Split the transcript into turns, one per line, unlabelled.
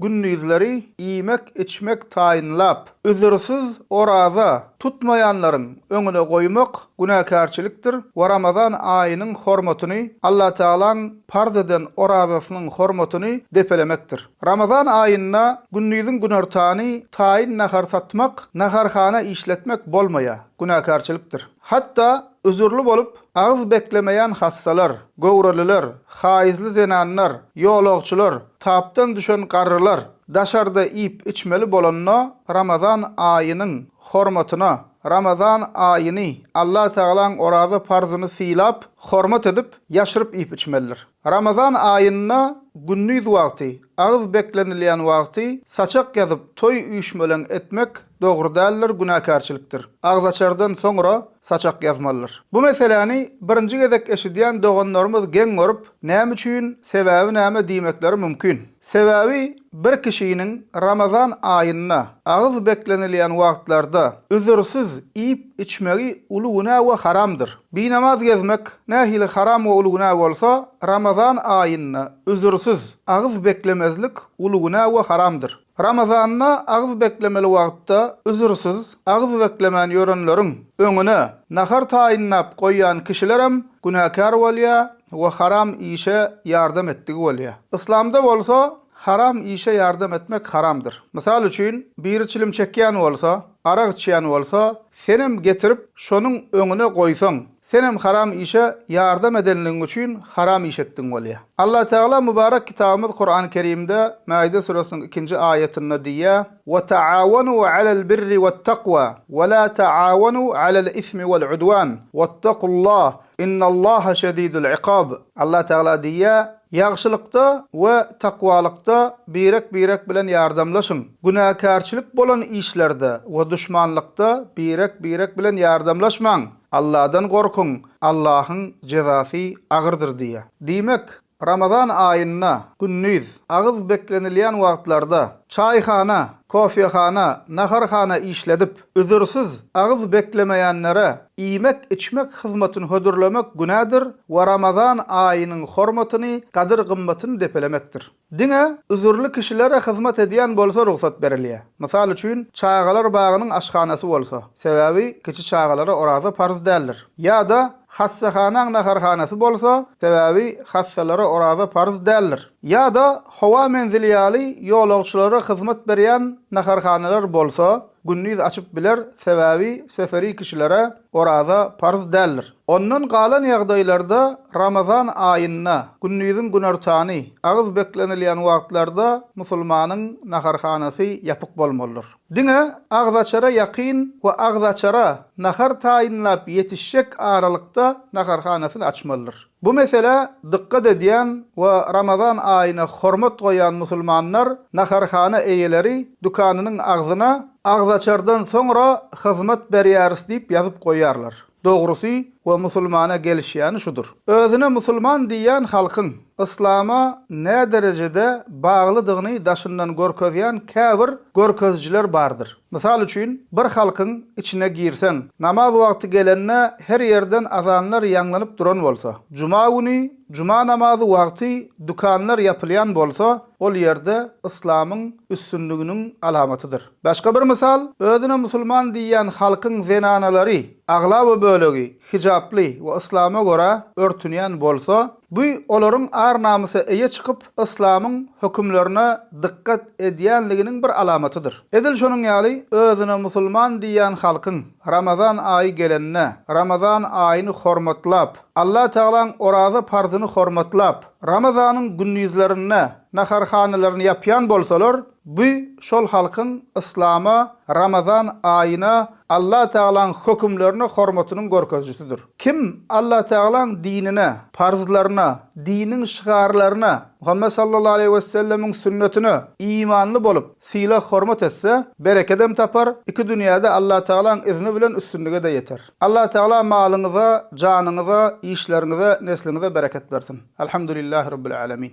Gündizleri iýmek-içmek taýynlap, üzürsiz oraza tutmaýanlaryň öňüne goýmak günäkärçilikdir we Ramazan aýynyň hormatyny, Allatagalaň parz eden orazasynyň hormatyny depelemekdir. Ramazan aýynda gündiziň günortany taýyn nahar satmak, naharhana işletmek bolmaýar, günäkärçilikdir. Hatda Üzürli bolup, agyz beklemeýän hassalar, göwreliler, haýyzly zenanlar, ýolagçylar, tapdan düşen garrylar, daşarda iýip-içmeli bolanda Ramazan aýynyň hormatyna, Ramazan aýyny, Allatagalaň oraza parzyny sylap, hormat edip, ýaşyryp iýip-içmelidir. Ramazan aýynda gündiz wagty, agyz beklenilýän wagty saçak ýazyp toý üýşmeleň etmek dogry däldir, günäkärçilikdir. Agzaçardan soňra saçak ýazmalydyr. Bu meseläni birinji gezek eşidýän doganlarymyz geň görüp, näme üçin, sebäbi näme diýmekleri mümkin. Sebäbi bir kişiniň Ramazan aýynda, agyz beklenilýän wagtlarda üzürsiz iýip-içmegi uly günä we haramdyr. Binamaz gezmek nähili haram we uly günä bolsa, Ramazan aýynda üzürsiz agyz beklemezlik uly günä we haramdyr. Ramazanda agyz beklemeli wagtda üzürsiz Agyz beklemän ýörenleriň öňüne nahar taýynlap goýýan kişilerem günäkär bolýar we haram işe ýardam etdigi bolýar. Yslamda bolsa haram işe ýardam etmek haramdyr. Mysal üçin, biri çilim çekýän bolsa, arak içýän bolsa, senem getirip şonuň öňüne goýsaň, Senem haram işe ýardam edenligiň üçin haram iş etdiň bolýa. Allatagala Mübarek Kitabymyz Kurany Kerimde Maide süresiniň ikinji aýatynda diýýä, Ve ta'awanu alel birri vet takwa, ve la ta'awanu alel ismi vel udwan, vettakullah, innallaha şedidul ikab. Allatagala diýýä, Ýagşylykda ve takwalykda birek-birek bilen ýardamlaşyň, günäkärçilik bolan işlerde ve duşmanlykda birek-birek bilen ýardamlaşmaň. Alladan gorkuň, Allahyň jezasy agyrdyr diýýär. Diýmek, Ramazan aýynda gündiz, agyz beklenilýän wagtlarda, çaýhana, kofehana, naharhana işledip, üzürsiz agyz beklemeýänlere iýmek-içmek hyzmatyny hödürlemek günädir we Ramazan aýynyň hormatyny, gadyr-gymmatyny depelemekdir. Diňe üzürli kişilere hyzmat edýän bolsa rugsat berilýär. Mysal üçin, çagalar bagynyň aşhanasy bolsa, sebäbi kiçi çagalara oraza parz däldir. Ýa-da hassahanaň naharhanasy bolsa, sebäbi hassalara oraza parz däldir. Ýa-da howa menzili ýaly ýolagçylara hyzmat berýän naharhanalar bolsa, gündiz açyp biler, sebäbi seferi kişilere Oraza parz däldir. Ondan galan ýagdaýlarda Ramazan aýynda, gündiziň günortany, agyz beklenilýän wagtlarda musulmanyň naharhanasy ýapyk bolmalydyr. Diňe agzaçara ýakyn we agzaçara nahar taýynlap ýetişjek aralykda naharhanasyny açmalydyr. Bu meselä dykgat edýän we Ramazan aýyna hormat goýýan musulmanlar naharhana eýeleri dükanynyň agzyna Agzaçardan soňra hyzmat berýäris diýip ýazyp goýýarlar. Dogrusy we musulmana gelişýäni şudur. Özüne musulman diýýän halkyň yslama näderejede baglydygyny daşyndan görkezýän käbir görkezijiler bardyr. Mysal üçin, bir halkyň içine girseň, namaz wagty gelende her ýerden azanlar ýaňlanyp duran bolsa, juma güni, juma namazy wagty dükanlar ýapylýan bolsa, ol ýerde yslamyň üstünliginiň alamatydyr. Başga bir mysal, özüne musulman diýýän halkyň zenanalary, aglaba bölegi hijaply we yslama görä örtünýän bolsa, Bu olaryň ar-namysa eýe çykyp, yslamyň hökümlerine dykgat edýänliginiň bir alamatydyr. Edil şonuň ýaly, özüne musulman diýýän halkyň Ramazan aýy gelende, Ramazan aýyny hormatlap, Allatagalaň oraza parzyny hormatlap, Ramazanyň gündizlerinde naharhanalaryny ýapýan bolsalar, Bu şol halkyň yslama, Ramazan aýyna, Allatagalaň hökümlerine hormatynyň görkezijisidir. Kim Allatagalaň dinine, parzlaryna, diniň şygarlaryna, Muhammet sallallahu aleýhi wessellemiň sünnetine imanly bolup, sylag-hormat etse, berekedem tapar, iki dünýäde Allatagalaň yzni bilen üstünlige-de ýeter. Allatagala malyňyza, janyňyza, işleriňize, nesliňize bereket bersin. Elhamdülillahi Rabbil Alemin.